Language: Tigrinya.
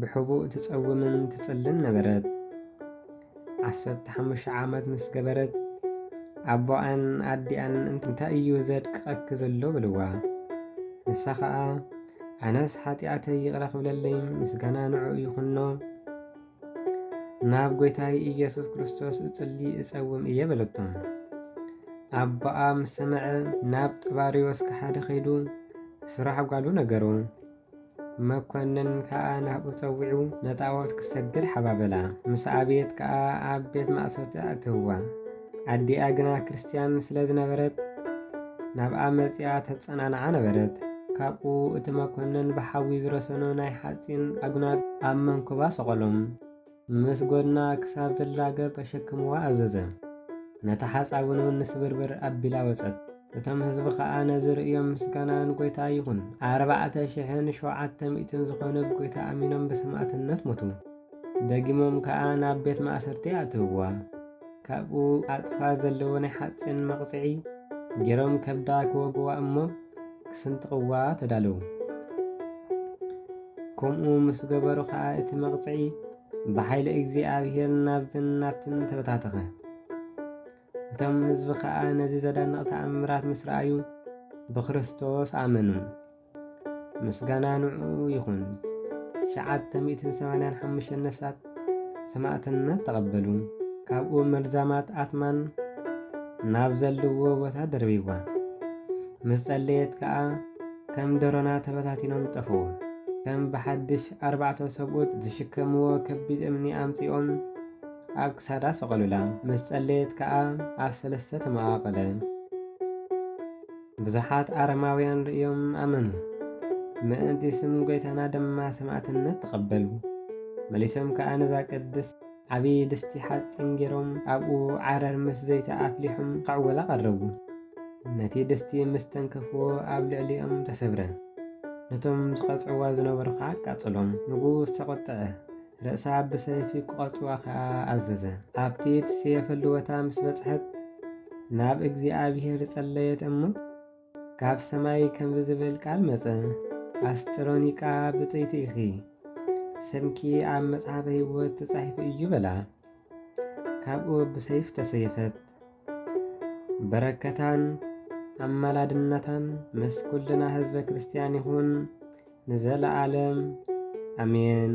ብሕቡእ ትጸውምን ትጽልን ነበረት። ዓሰርተ ሓሙሽተ ዓመት ምስ ገበረት ኣቦኣን ኣዲኣን እንታይ እዩ ዘድቅቐኪ ዘሎ በልዋ። ንሳ ኸኣ ኣነስ ሓጢኣተይ ይቕረ ክብለለይ ምስጋና ንዕኡ ይኹኖ ናብ ጐይታይ ኢየሱስ ክርስቶስ እጽሊ እጸውም እየ በለቶም። ኣቦኣ ምስ ሰምዐ ናብ ጥባርዮስ ክሓደ ኸይዱ ስራሕ ጓሉ ነገሮ። መኰንን ከኣ ናብኡ ጸዊዑ ነጣዖት ክሰግድ ሓባበላ። ምስ ኣብየት ከኣ ኣብ ቤት ማእሰርቲ ኣእተውዋ። ኣዲኣ ግና ክርስትያን ስለ ዝነበረት ናብኣ መጺኣ ተጸናንዓ ነበረት። ካብኡ እቲ መኰንን ብሓዊ ዝረሰኑ ናይ ሓጺን ኣጕናድ ኣብ መንኵባ ሰቐሎም። ምስ ጎድና ክሳብ ትላገብ ኣሸክምዋ ኣዘዘ። ነታ ሓጻውን እውን ንስብርብር ኣቢላ ወጸት። እቶም ህዝቢ ኸኣ ነዚ ርእዮም ምስጋና ንጐይታ ይኹን ኣርባዕተ ሽሕን ሸውዓተ ሚእትን ዝኾኑ ብጐይታ ኣሚኖም ብሰማእትነት ሞቱ። ደጊሞም ከኣ ናብ ቤት ማእሰርቲ ኣእተውዋ። ካብኡ ኣጽፋር ዘለዎ ናይ ሓጺን መቕጽዒ ገይሮም ከብዳ ክወግዋ እሞ ክስንጥቕዋ ተዳለዉ። ከምኡ ምስ ገበሩ ኸኣ እቲ መቕጽዒ ብሓይሊ እግዚኣብሔር ናብዝን ናብትን ተበታተኸ። እቶም ህዝቢ ኸኣ ነዚ ዘደንቕ ተኣምራት ምስ ረኣዩ ብክርስቶስ ኣመኑ። ምስጋና ንዑኡ ይኹን። ትሽዓተ ሚእትን ሰማንያን ሓሙሽተን ነፍሳት ሰማእትነት ተቐበሉ። ካብኡ መርዛማት ኣትማን ናብ ዘለዎ ቦታ ደርቢዋ ምስ ጸለየት ከኣ ከም ደሮና ተበታቲኖም ጠፍኡ። ከም ብሓድሽ ኣርባዕተ ሰብኡት ዝሽከምዎ ከቢድ እምኒ ኣምጺኦም ኣብ ክሳዳ ሰቐሉላ። ምስ ጸለየት ከኣ ኣብ ሰለስተ ተመቓቐለ። ብዙሓት ኣረማውያን ርእዮም ኣመኑ፣ ምእንቲ ስም ጐይታና ድማ ሰማእትነት ተቐበሉ። መሊሶም ከኣ ነዛ ቅድስት ዓቢ ድስቲ ሓጺን ገይሮም ኣብኡ ዓረር ምስ ዘይቲ ኣፍሊሑም ክዕወላ ቀረቡ። ነቲ ድስቲ ምስ ተንከፍዎ ኣብ ልዕሊኦም ተሰብረ። ነቶም ዝቐጽዕዋ ዝነበሩ ከኣ ኣቃጸሎም። ንጉስ ተቖጥዐ። ርእሳ ብሰይፊ ክቖርጽዋ ኸኣ ኣዘዘ። ኣብቲ እትስየፈሉ ቦታ ምስ በጽሐት ናብ እግዚኣብሄር ጸለየት እሞ፣ ካብ ሰማይ ከምዚ ዝብል ቃል መጸ፣ ኣስጥሮኒቃ ብጽይቲ ኢኺ፣ ስምኪ ኣብ መጽሓፈ ህይወት ተጻሒፉ እዩ በላ። ካብኡ ብሰይፍ ተሰየፈት። በረከታን ኣማላድነታን ምስ ኩልና ህዝበ ክርስቲያን ይኹን ንዘለዓለም ኣሜን።